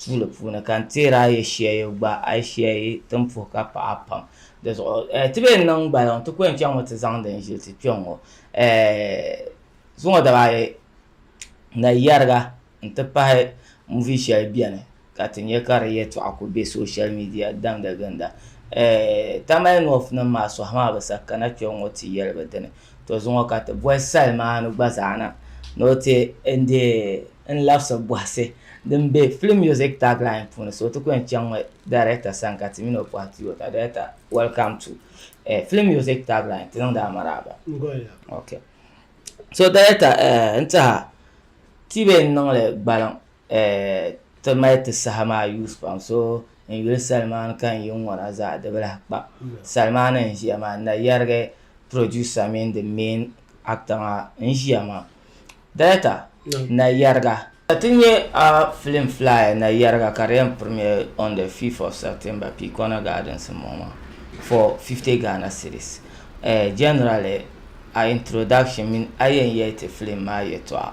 tuuli puuni ka n teeri a yi shia yi gba a yi shia yi tin puhi ka paɣa pam di zuɣu eh, ti bee niŋ gbaliŋ ti kɔɛn chaŋ ŋɔ ti zaŋ din ʒili ti kpɛŋ ŋɔ eh, zuŋɔ daba ayi na yɛriga n ti pahi muvi shɛli bɛni ka ti nyɛ ka di yɛtɔɣa ku bɛ social media damda ginda eh, tamale north nim maa sɔhi maa bi sa kana kpɛŋ ŋɔ ti yɛli bi dini To zuŋɔ ka ti bɔhi Salmaanu gba zaa na ni o ti n-deei n labisi bɔhisi din be film music tagline puuni so ti ku yɛn chaŋ mi Director sani ka ti mini o pɔhi ti yota Director welcome to eh, film music tagline ti niŋdi a maraaba ok so Director eh, n tiɛha ti be n niŋli gbaliŋ ti mali ti saha maa yuus pam so n yuli salimaani ka n yi ŋɔna zaa di bi lahi kpa salimaani n ʒiya maa na yɛrigi producer mini the main actor maa n ʒiya maa director na yɛriga ti nyɛ a film fly na yɛriga ka di yɛn premiere on the 5th of September Pikona Gardens n bɔŋɔ maa for 50 Ghana cedis generally a introduction mini a yɛn yɛli ti film maa yɛtɔɣa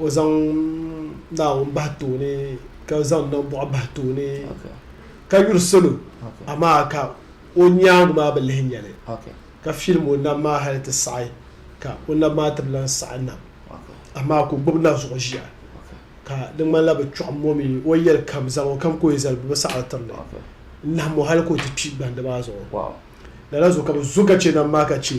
O zaŋ Naawuni bahi tooni ka zaŋ nambɔɣu bahi tooni ka yuri salo amaa ka o nyaaŋa maa bi lihi nyɛli ka filim o nam maa hali ti saɣi ka o nam maa ti bi lan saɣi nam amaa ka o gbubi na zuɣu ʒiya ka di ŋmanila bi kpiɔɣim o mi o ni yɛli kam zaŋ o kam ka o yi zali bɛ bi saɣiri tiri li n-nahim o hali ka o ti kpi gbandi maa zuɣu lala zuɣu ka bɛ zo ka chɛ nam maa ka chɛ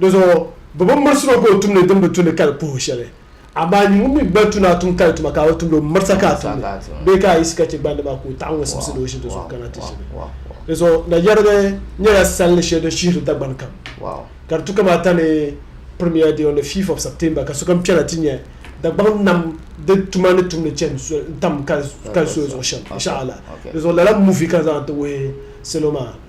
Dizuɣu bɛ bi mirisi o ka o tum ni din bi tu ni kali puhibu shɛli. Amaa nyin ŋun mi gba tu ni a tum kali tuma ka a bi tumdi o, mirisa ka a tumdi, bee ka a yiɣisi ka chɛ gbandi maa ka o taɣi ŋun simsi ni o ʒi di zuɣu kana ti ʒini. Dizuɣu na yɛrigi nyɛla salli shɛli din shihiri Dagbani kam, ka di tu kamaata ni Premier Day on the fifth of September ka sokam kpɛna ti nya Dagbaŋ nam di tuma ni tumdi chani n-tam kali soya zuɣu shɛm, insha Allah. Dizuɣu lala movie ka n zaŋ ti wuhi salo maa.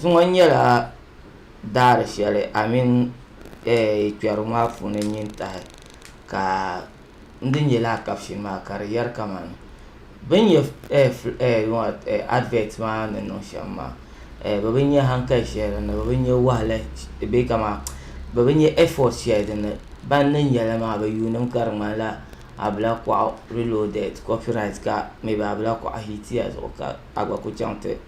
Zuŋɔ nyɛla daari shɛli amini kpɛrigu maa puuni n nyin tahi ka n di nyɛ lala kapishini maa ka di yɛri kamani bi ni nyɛ adivɛt maa ni niŋ shɛm maa bi bi nyɛ hankali shɛli dinni bi bi nyɛ wahala bee kamani bi bi nyɛ ɛfɔt shɛli dinni ban ni nyɛ li maa bi yuundi mi ka di ŋmanila abila kɔɣu riloodɛd kɔpirayit ka mɛ bi abila kɔɣu hiitiya zuɣu ka a gba ku chaŋ ti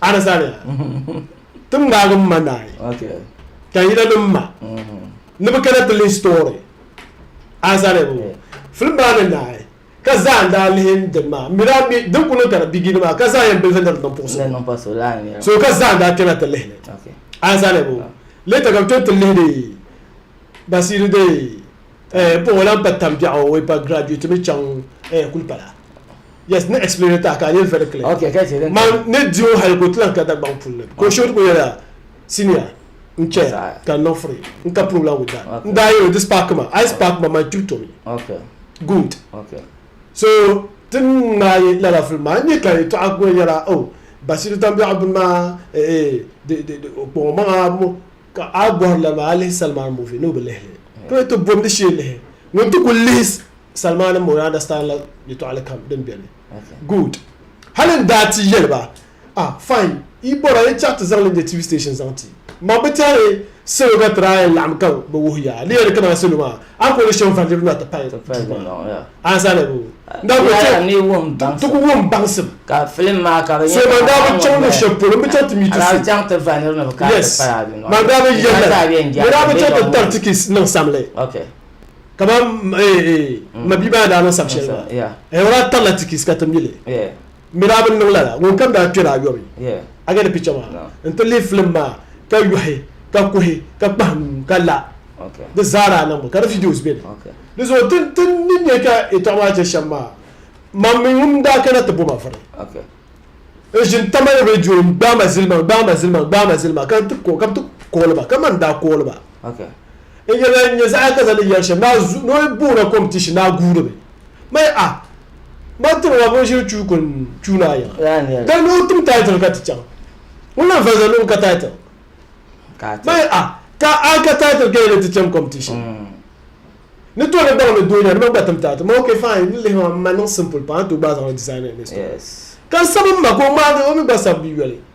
Anasaani ti ŋmaagi m ma naai ka yina ni m ma ni bɛ kana ti lihi story anasaani bɔŋɔ film maa ni naai ka zaa n daa lihi dini maa m mi daa mi din ku niŋ ka di bigini maa ka zaa yɛn bilifi ni di niŋ puɣusi so ka zaa n daa kpɛna ti lihili anasaani bɔŋɔ later ka bɛ tom ti lihiri Basiru dee eh n boŋɔ lan pa tambiɛɣu o yi pa graduate mi chaŋ eh kuli pala yes ni explain tahi ka a nyɛ very clear Okay, ka chɛ din man kani. ni di o hali ka o ti lan ka Dagbaŋ puli ni ka o shoo ti kuli yɛliya senior n chɛ ya Saha. ka n niŋ free n ka problem with that Okay. n daa yɛl o di spark ma a yi spark ma man kpib tomi Okay, good okay. so ti ni ŋmaai lala film maa n nyɛ ka yɛltɔɣa kuli nyɛla oh Basiru tambiɛɣu bini maa eh eh di di di o kpaŋ o maŋa mo Ka a bɔri lana maa a lihi Salman movie ni o bi lihi li to yi ti bomdi shee lihi ŋun ti kuli lihi Salman moo yaa understand la yɛtɔɣili kam din beni good hali n daa ti yɛli ba ah fine yi bɔra yi chaɣi ti zaŋli nyɛ TV station zaŋ ti ma bi tɛhi salo ka ti daa yɛn laɣim ka bi wuhi ya a lihi ya ni kaman salo maa A kuli shɛm va niriba na ti pahi duu maa. A ni zani bɛ daa kuli chaŋ ti ku wum baŋsim. So man daa bi chaŋ luɣ shɛli polo m-bi chaŋ ti mi ti so. Yes, man daa bi yɛli lala. Bɛ daa bi chaŋ ti tari ti kiss niŋ samli. Kamani m ma bia maa ni daa niŋ sab shɛli maa. O daa tarila ti kiss ka ti mi li. Mirabi n niŋ lala ŋunkam daa kpɛri ayɔbu a gani picha maa n ti lihi filim maa ka yɔhi ka kuhi ka kpahi nuu ka la di zaa daa niŋmi ka di videos be ni di zuɣu ti ni nya ka yɛtɔɣa maa che shɛm maa mam mi ŋun daa kana ti bo ma vuri n ʒini tamali radio n gbaai ma zilima n gbaai ma zilima n gbaai ma zilima ka ti ka bi ti kooli ba ka man daa kooli ba n yɛli nya zaɣa ka zaŋ ni yɛri shɛm daa zu ni o boona competition daa guuri mi Mai a ba tiri ma binshiri chuu ka n chuu ni a yiŋa. Ka ni o tim title ka ti chaŋ. Ŋun lan valiza luɣu ka title. Mai a ka a ka title ka yi ni ti cham competition. Ni to ni baŋ ni doo nya di ma gba tim title. Mai ok fine ni lihi ma m ma niŋ simple pam a ni to gbaai zaŋli design a ni store. Ka n sabi m ma ka o ŋmaagi o mi gba sabi yoli.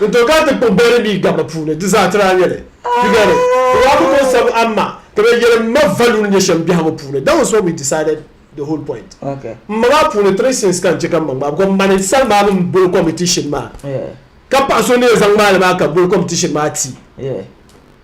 Di to ka ti kpuɣi beri mii gabba puuni, di zaa tiri a nyɛli. Yi gari? Di daa ku kɔŋ sabu amma ka be yɛli m ma value ni nyɛ shɛm biɛhigu puuni. That was what we decided the whole point. M ma maa puuni three sins ka n che ka m ma ŋmaai because mani sali maa mini m boli competition maa ka paɣa so ni yɛn zaŋ ŋmaai li maa ka boli competition maa ti.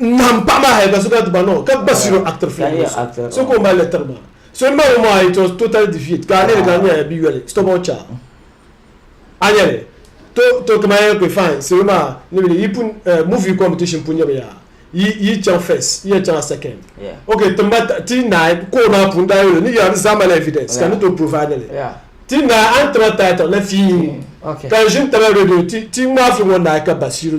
ŋmahim paɣ maa hali ka so kana ti ba noo ka gba siro actor film ŋɔ so so ka o mali li tiri ba so m-bala ŋɔ maa it was totally defeat ka a lihiri ka a nyɛla bi yoli stubborn child a nya li to to kaman ya kpe fine salo maa ni bi yi pun movie competition pun nyɛmi yaa yi yi chaŋ first yi yɛn chaŋla second ok timba ti naai koo maa pun daa yoli ni yaa ni zaa mali evidence ka ni to provide li ti naai a ni taba title na fiin ka n ʒini taba radio ti ti ŋmaai film ŋɔ naai ka ba siro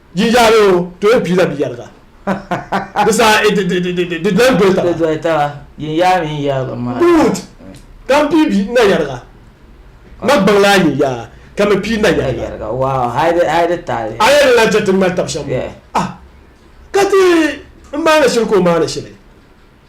Jinjaari o to yi piila biyɛriga. Di saha i di lahi doli taba. Di doli taba. Yinyaa mini yɛriga maa. Good! Ka m pii bi nayɛriga. Ma gbaŋla a yinyaa ka mi pii nayɛriga. Wow! Hali di taali. A yɛn lan chɛ ti ŋmɛri tab shɛm ŋɔ? Ah! Ka ti n maani shili ka o maani shili.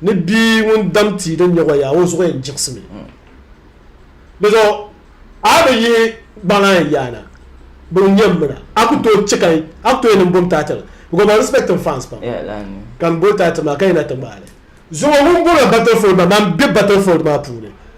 Ni bia ŋun dam tia din nyɛ wayaa, o zuɣu yɛn jiɣisimi. Dizuɣu a bi yihi gbaŋ a yɛn yaana, bɛ n-nyɛ m mina. A ku tooi chɛ ka a ku tooi niŋ bom taati li? Because ma respect n fans pam, ka m boli taati maa ka yi na ti ŋmaai li. Zuŋɔ ŋun bɔŋɔ battlefold maa, man be battlefold maa puuni,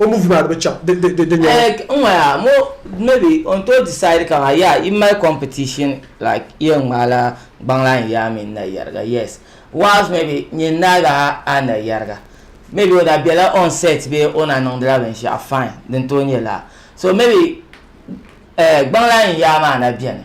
o movie maa di bi chaŋ di di di nyɛla. Like n ŋɔ yaa mo maybe o n tooi decide ka maa yaa yi mali competition like yi yɛn ŋmaai la gbaŋlaa n yaa mini na yariga yes whilst maybe nyin naa ga a na yariga maybe o na bela on set bee o na niŋdi la binshɛɣu fine din tooi nyɛ laa so maybe eh gbaŋlaa n yaa maa na beni.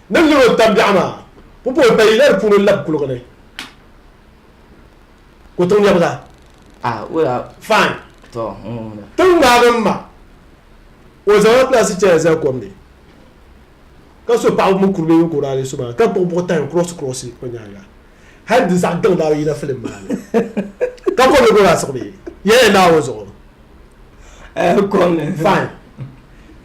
Ni luri o tabiɛɣu maa, pupooi pay la di puuni n-lab kuliga ni ka o tiŋ lɛbiga. Fine. Tiŋ ŋmaagi m-ma ka o zaŋla pilaasi chaya zali kom ni ka so paɣiba mini kuri bee ninkura ni so maa ka kpuɣi buɣi tahi n-kurɔsi kurɔsi o nyaaŋa hali di zaɣ gaŋ daa bi yina filim maa ni ka kom ni gba daa siɣimi yɛlli Naawuni zuɣu. Fine.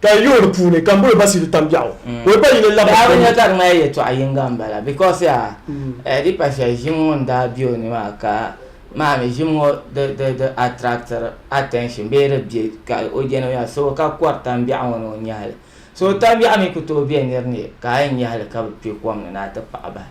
Ka yi lihi di puuni ka Mbolo Basiiru tam biɛɣu ka o ba yini labiri Daa bi nya ka di ŋmani yɛltɔɣa yiŋga m-bala because yaa eh, di pa shɛli ʒim ŋun daa be o ni maa ka maa mi ʒim ŋɔ di di di attractiri attention bee di be ka o je ni o nya so ka kɔri tam biɛɣu ŋɔ ni o nya li. So tam biɛɣu mi ku tooi be nir ni ka a yɛn nya li ka bi kpe kom ni ni a ti paɣi bahi.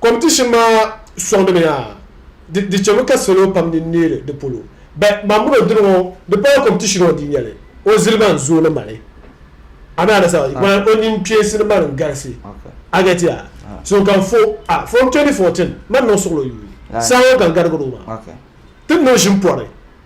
Competition maa sɔŋdimi yaa di di chemi ka salo pam din neeri di polo but man mini o dini ŋɔ di pala competition ɔ di nyɛli o zilima n zooi ni mali a mi anasa man o nini kpeesi ni mali n garisi a get ya so ka fo a from 2014 man niŋ suɣilo yuui saa ŋɔ ka n garigiri o maa ti ni o ʒin pɔri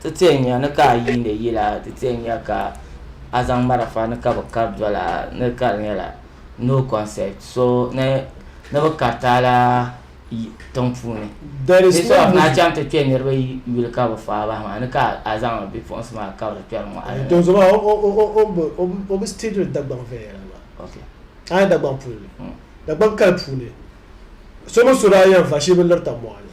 Ti tee nya ni ka a yiindi yila, ti tee nya ka a zaŋ marafa ni ka bi kari doli a ni ka di nyɛla no concept so ni ni bi kariti a la tiŋ puuni. Bɛ so of na chaŋ ti kpe niriba yuli ka bi faa bahi maa ni ka a zaŋ a bipuɣinsi maa kabiri kpɛri mɔɣili ni. Donso maa o bi steediri Dagbaŋ viɛnyɛla maa. A nya Dagbaŋ puli ni, Dagbaŋ kali puuni so mini so daa yɛn va shee bi lirita mɔɣili.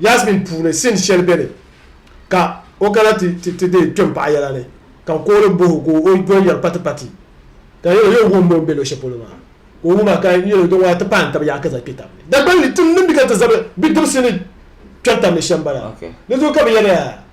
Yasmin puuni sin shɛli be ni ka o kana ti ti deei kpɛm paɣa yɛla ni ka n kooli bohi o ka o o doli yɛri pati pati ka n yɛli o yɛli wumbu m be luɣ shɛli polo maa ka o wum a ka n yɛli o din ŋɔ a ti paai n taba yaɣa ka zaŋ kpe tab ni Dagbani ni tim din bi ka ti zabiri bidibisi ni kpɛri tab ni shɛm bala di zuɣu ka bɛ yɛri yaa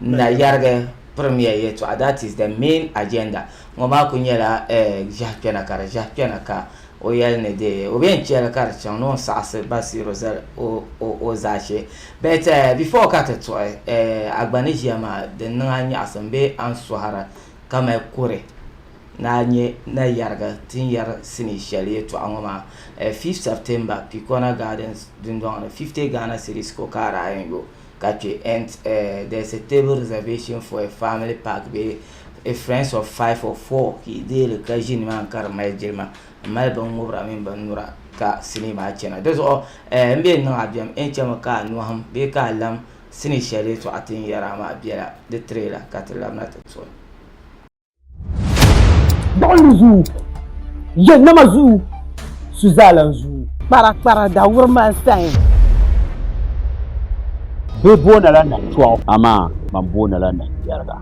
N na yɛrigi pirimiya yɛtɔɣa, that is the main agenda, ŋɔ maa kuli nyɛla ʒiɛhi kpɛna ka di ʒiɛhi kpɛna ka o yɛli ni di o bi yɛn chɛ li ka di chaŋ ni o ni saɣisi Basiiru zali o zaashee. But before ka ti tuɣi a gba ni ʒiya maa din niŋ a nyaɣisim bee a ni sɔhira ka mali kuri ni a nyɛ na yɛrigi ti ni yɛri sinii shɛli yɛtɔɣa ŋɔ maa 5th September Pikona Gardens dundɔŋ ni 50 Ghana cedis ko ka a daa yɛn yo. ka chɛ and uh, there's a table reservation for a family park be a friends of five or four ka i deeri ka ʒini maa ka di mali jilima n mali bin ŋubira mini bin nura ka sinii maa chɛna di zuɣu eh, n bɛ niŋ a bɛm n chɛmi ka a nɔhim bee ka a lam sinii shɛli tɔɣa tin yɛra maa bɛla di tirela ka ti labina ti toli Gbuɣinli zuu, yɛ nama zuu, su zaalan zuu. Kpara kpara da wuri man sayin. Bɛ boona la na tɔɣu, amaa man boona la na yɛriga.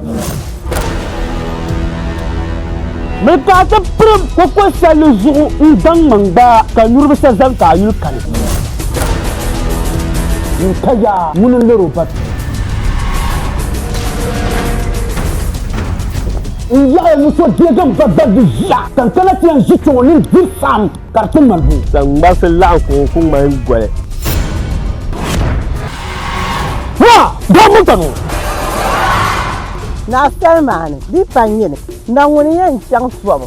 Mi ka a ti pirim koko salli zuɣu n zaŋ ma n gbaa ka niriba sa zani ka a yuli kani. N ka yaa ŋuni n lori o babi. N yaɣi ni so deegi n ba David ʒia ka n kana ti yɛn ʒi kpɛŋɔ ni n diri saɣim ka di ti mali buyi. Ka ŋmarisi laɣim kuɣu ku ŋmahin goli. Naa! Daa mɔnta ni o! Naa salima ni di pa n yini, na ŋuni n yɛn chaŋ tɔbu?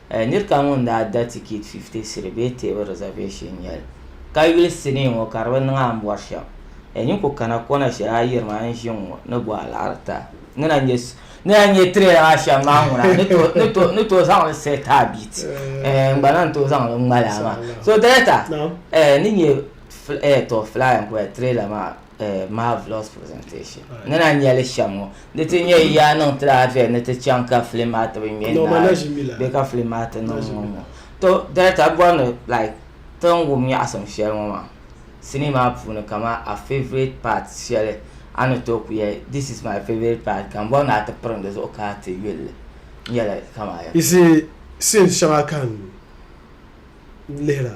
Nir kam ŋun daa da tikit fifti siri bee teebu reservation nyɛl, ka yuli sinii ŋɔ ka di bi niŋ a ni bɔri shɛm. Nyin ku kana kɔna shɛli a yiri ma n ʒi ŋ ŋɔ ni bɔ alaɣirita. Ni na nyɛ trailer maa shɛm maa ŋuna n ni tooi zaŋ li set a beat n gba lahi tooi zaŋ li ŋmali a maa. So Director, ni nyɛ fly n kuli trailer maa. eh, marvelous presentation ni na nyɛli shɛm ŋɔ di ti nyɛ yaa niŋ ti laafia ni ti chaŋ ka filim maa ti bi ŋmɛ No, ma na ʒimi la. bɛ ka filim maa ti niŋ ŋɔ ŋɔ to director bɔri ni like ti ni wum nyaɣisim shɛli ŋɔ maa sinii maa puuni kama a favourite part shɛli a ni tooi ku yɛli this is my favourite part ka n bɔri ni a ti pirim di zuɣu ka a ti yuli li n yɛla kama ya You see, scenes shɛŋa ka n lihira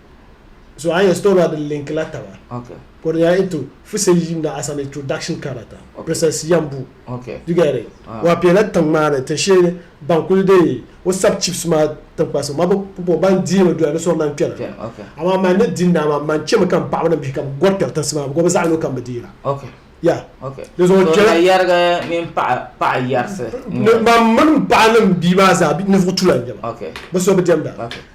So a yɛn store la di link la taba. Okay. Ka di nyɛla into fuse yim na as an introduction kana ta. Okay. Princess Yambu. Okay. You get it? Uh. Ah. Wa pe la tiŋ maa ni tin sheli ban kuli de o sub chips maa tinkpasi ma bo ban di mi doya ni sori nan kpɛna. Okay. Ama man ni din na ma man chemi kam paɣaba ni bihi kam gɔri kpɛri tinsi maa because bi zaɣi no kam bi deela. Okay. Yeah. Okay. Di zuɣu kpɛra. So yɛrigi mini paɣa paɣa yɛrisi. Mam mini paɣa ni bia maa zaa ninvuɣu tula n nyɛba. Okay. Bi so bi diɛmda. Okay.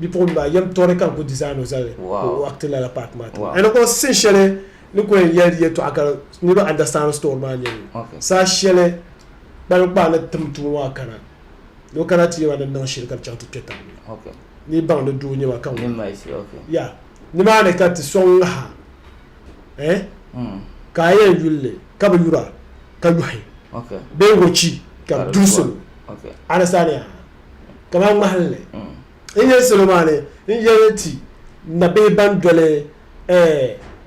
bipuɣin maa yɛm tɔri ka n ku design o zali ka o acti lala part maa tiŋa and o sin shɛli ni ku yɛn yɛli yɛtɔɣa ka niriba understand story maa nyɛli saha shɛli kpalinkpaa ni tim tumo maa kana ni o kana ti yɛma ni niŋ shili ka di chaŋ ti kpɛ tabi ni ni baŋ ni doo nyɛma ka ya nimaani ka ti sɔŋ ŋaha eh ka a yɛn yulli ka bi yura ka yuhi bee wachi ka duri solo a ni saani yaa kamani ŋmahinli n yɛli salo maa ni n yɛli ti nabihi ban doli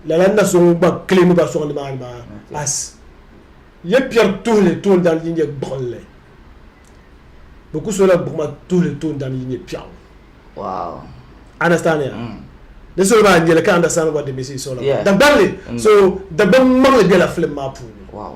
lala na so ŋun gba kilimi ba sɔŋ nimaani maa as ya piɛri tuhili toondana din nyɛ gbuɣinli bɛ ku sola gbuɣima tuhili toondana din nyɛ piɛɣu Wow. understand ya mm. ni solo maa nyɛli ka understand what the message is all about yeah. dagbanli mm. so dagbani maŋli bela film maa puuni wow.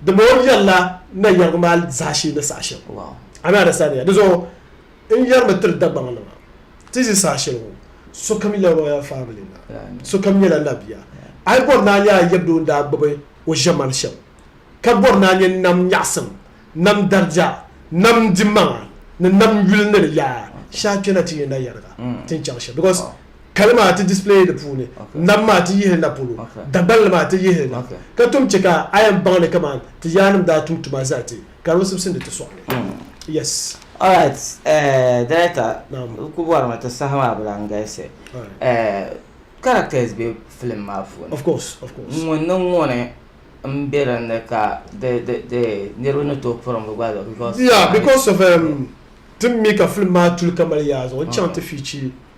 Dama o yɛrila na yɛrigu maa zaashee ni saha shɛli. Ami andasitandya? Di zuɣu n yɛrimi tiri Dagbaŋ nima ti zi saha shɛli ŋɔ sokam yila royal family na, sokam nyɛla na bia. A yi bɔri ni a nya a yɛbdoo ni daa gbubi o ʒemani shɛm ka bɔri ni a nya nam nyaɣisim, nam dariga, nam dimaŋa ni nam yuli ni di yaa, shee a kpɛna ti nya na yɛriga ti ni chaŋ shɛm because Kali maa ti display di puuni. Nam maa ti yihi na polo. Dagbanli maa ti yihi na. Ka tom che ka a yan baŋ ni kaman ti yaannim daa tum tuma zali ti, ka di bi sibisindi ti sɔɣili. Yes. Alright, Director, n ku bɔri mi ti saha maa bi lahi galisi. Characters be film maa puuni. Of course, of course. Ŋuni ni ŋuni n be din ni ka di niriba ni tooi puri mi gba zuɣu? Yeah, because of, tim mi ka film maa tuli ka mali yaa zuɣu, n chaŋ ti feature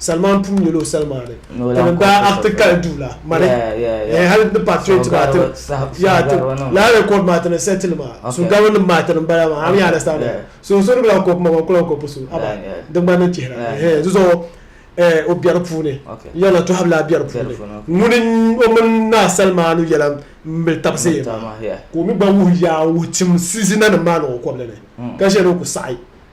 Salman pun nyɛla o salimaani ka din daa akti kali duu la mani eh, hali ni part 20 maa ti laa record maa ti ni settle maa so garo nim maa ti ni bala maa am yaana stand so so ni bila kɔpu ma kula kɔpu so aba di gba ni chihira eh zuzo eh o biɛri puuni yɛla tɔhabi laa biɛri puuni ŋuni o mini naa salimaanu yɛla mbil tabisi ka o mi gba wuhi yaa wuhi tim sizina nim maa ni o kɔbili ni ka ʒɛni o ku saɣi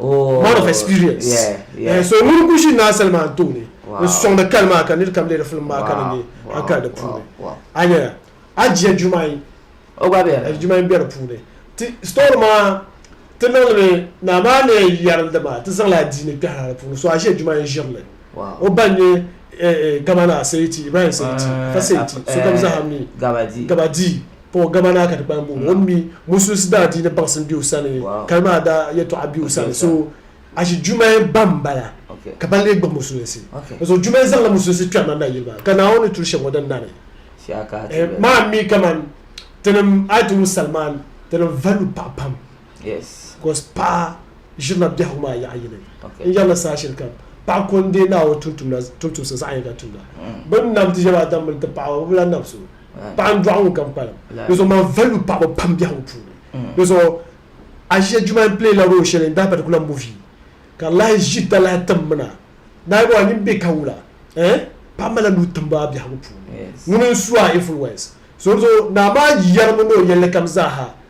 Oh, man of experience yeah, yeah. Eh, so ŋuni ku ʒi Naa Salman tooni n sɔŋdi kali maa ka nir kam lihiri filim maa ka ni nya a kali di puuni a nya a jia Jumayi o gba bɛ eh, Jumayi bɛ di puuni ti story maa ti niŋdimi naa maa ni yɛri di maa ti zaŋla adiini kpɛhira di puuni so a ʒia Jumayi ʒirili o ba nyɛ eh, eh, Gabana Seiti Ibrahim Seiti ah, fa Seiti sokam zaha mi Gabadi Paul gama naa ka ti kpalim booni o mi musulisi daa diini baŋsim be o sani kali maa daa yɛltɔɣa be o sani so ashi Jumaye ba m-bala ka ba lee gbubi musulinsi di zuɣu Jumaye zaŋla musulinsi kpɛrina nayili maa ka Naawuni ni turi shɛm ŋɔ din nani maa mi kaman tinim ayat ŋɔ sali maa tinim valibu paɣa pam bicos paɣa ʒirila biɛhigu maa yaɣa yini n-yɛrila saha shɛli kam paɣa ko n-deei Naawuni tumtumsa zaɣ yini ka tumda bɛ ni nam ti ʒiɛm Adam mini ti paɣaba bɛ bi lahi nam so Paɣa n dɔɣi ŋun kam kpalim. Di zuɣu maa value paɣaba pam biɛhigu puuni. Di zuɣu Asia Juma n play la role shɛli in that particular movie ka di lahi ʒi dalahi tim mi na ni a yi bɔbi a nini bɛ ka wula eh paɣa mali la nuu timbu a biɛhigu puuni ŋuni n su a influence so di zuɣu naa maa yɛri mi ni o yɛlli kam zaa ha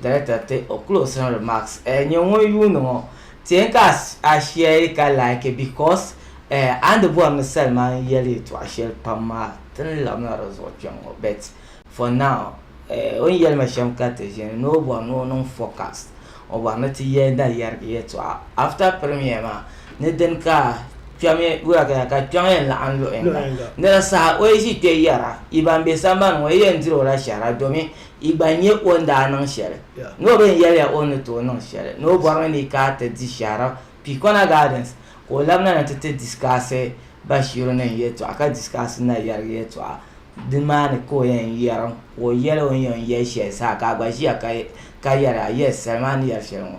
Director te o closing remarks eh nye ŋun yuuni ŋɔ tɛɛn ka a share ka like because eh a ni bɔri ni salima n yɛli yɛtɔɣa shɛli pam maa ti ni labina di zuɣu kpɛm ŋɔ but for now eh o ni yɛli ma shɛm ka ti ʒini ni o bɔri ni o niŋ forecast o bɔri ni ti yɛli na yɛrigi yɛtɔɣa after premier maa ni dini ka kpɛmi wuya ka ya ka kpɛŋ yɛn laɣim luɣi yinga ni di saha o yi ʒi kpɛ yɛra yi ban be sambani ŋɔ yi yɛn diri o la shɛhira domin yi gba nya o ni daa niŋ shɛli ni o bɛn yɛliya o ni tooi niŋ shɛli ni o bɔrimi ni ka a ti di shɛhira Picona Gardens ka o labina ni ti ti disikaasi Bashiru ni n yɛtɔɣa ka disikaasi Nayariga yɛtɔɣa di maa ni ka o yɛn yɛrim ka o yɛli o ni yɛn yɛli shɛli zaa ka a gba ʒiya ka yɛli a yes sali maa ni yɛri shɛli ŋɔ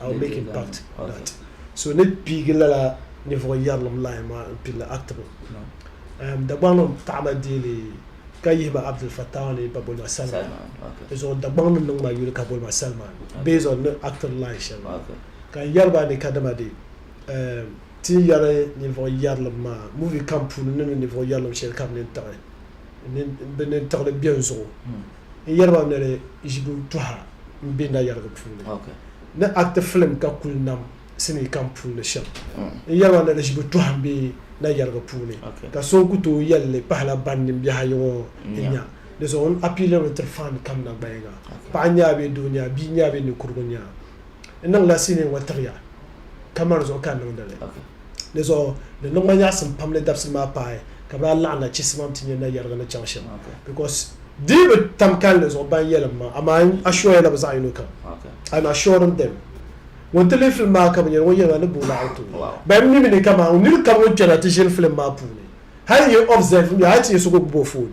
I will make a pact that so ni piigi lala ninvuɣu yɛrilim line maa n pilli actable um, Dagbaŋ nim taɣama deeli ka yihi ma Abdul Fattah ni ba boli ma Salman di zuɣu Dagbaŋ ni niŋ ma yuli ka boli ma Salman based on ni actor line shɛli maa ka n yɛri ba ni ka dama de um, ti ni yɛri ninvuɣu yɛrilim maa movie kam puuni ni ni ninvuɣu yɛrilim shɛli ka bi nini tiɣi bi nini tiɣili bɛn zuɣu n yɛli ba ni di ʒibu tuha n be nayɛrigu puuni ni acti filim ka kuli nam sinii kam puuni shɛm. N yɛli ba ni di ʒibu tuha m-be nayɛrigu puuni ka so n ku tooi yɛli li pahila ban nin biɛhi ayi ŋɔ n-nya. Di zuɣu n appealiri li tiri fan kam na gbayiŋa. Paɣa n-nya a bee doo n-nya a, bia n-nya a bee ninkurugu n-nya a. N niŋla sinii ŋɔ tiɣi ya ka mani zuɣu ka n niŋdi li. Di zuɣu di niŋ ma nyaɣisim pam ni dabisili maa paai ka bɛ daa laɣim na chisimam ti nyɛ nayɛrigu ni chaŋ shɛm because di bi tam kalinli zuɣu ban yɛlim maa amaa n assure la bɛ zaɣ yino kam I'm assuring them ŋun ti lihi film maa ka bi nyɛli ŋɔ yɛlima ni booi la auto ban mi mi ni kaman nir kam ŋun kpɛna ti ʒini film maa puuni hal n yi observe mi hal ti nyɛ so ka o gbubi o phone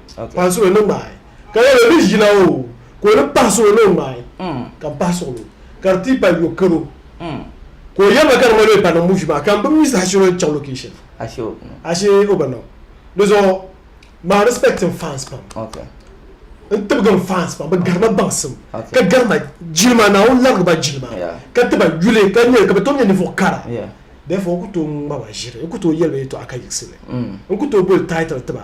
pahi suɣili ni ŋmaai ka lala ni ʒila o ka o ni pahi suɣili ni o ŋmaai ka n pahi suɣili ka di ti pahi yo karo ka o yɛliba ka di ŋmanimi pa niŋ muvi maa ka m bi mi saha shɛli o ni chaŋ location ashe o bi niŋ di zuɣu maa respect n fans pam n tibigi n fans pam bɛ garima baŋsim ka garima jilima Naawuni larigi ba jilima ka ti ba yuli ka nyɛ ka bɛ tom nyɛ ninvuɣ kara therefore n ku tooi ŋma ba ʒiri n ku tooi yɛli ba yɛtɔɣa ka yiɣisi li n ku tooi boli title ti ba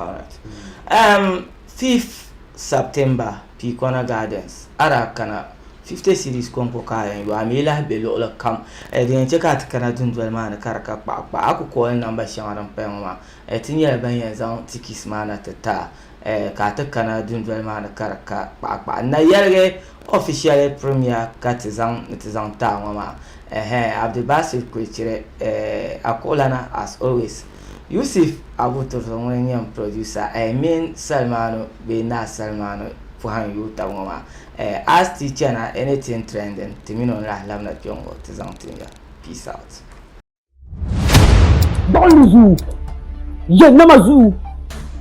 Alright. Um, 5th September, Piikona Gardens, a daa kana 50 cedis kɔŋko ka a yɛn yo, a mi lahi be luɣili kam. Eh, din yɛn chɛ ka a ti kana dundoli maa ni ka di ka kpaɣa kpaɣa, a ku kooli namba shɛŋa din paya ŋɔ maa. Eh, ti nyɛla ban yɛn zaŋ tikis maa na ti ti a, eh, ka a ti kana dundoli maa ni ka di ka kpaɣa kpaɣa. N na yɛligi officially premier ka ti zaŋ ni ti zaŋ ti a ŋɔ maa. Ɛhɛɛn, Abdulbasir kuli chiri, eh, a kuɣulana as always. Yusuf Abu-Turzo ŋun nyɛ n producer eh mini Salmanu bee Naa Salmanu pɔhim yuui tab ŋɔ maa eh as ti chana anything trending ti mini o n lahi labina kpe ŋɔ ti zaŋ tin ya. Peace out. Gbuɣinli zuyu, yɛn nama zuyu.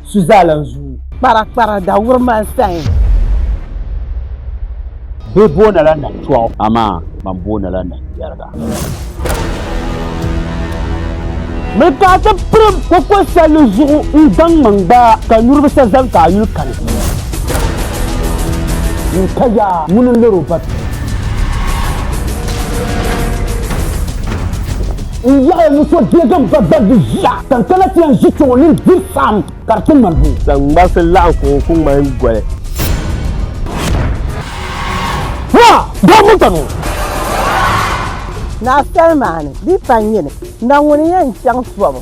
su zaa lan zuui. Kpara kpara da wuri man sayin. Bɛ boona la na tɔɣu. Amaa man boona la na yɛriga. Miri ka a ti pirim koko salli zuɣu n-gbaŋ man gbaa ka nyuri bi sa zani ka a yuli kani. N ka ya ŋuni n-liri o ba pii. N yaɣi n so deegi n ba gbalibu ʒiya ka n kana ti yɛn ʒi kpɛ o nini diri saɣim ka di ti ŋmani boo. Saŋmarisi laɣim ka o ku ŋmani goli. Naa! Daa ŋun ka ni? Naa Salimaani, di yi pa n yini, na ŋuni n-yɛn chaŋ tɔbu?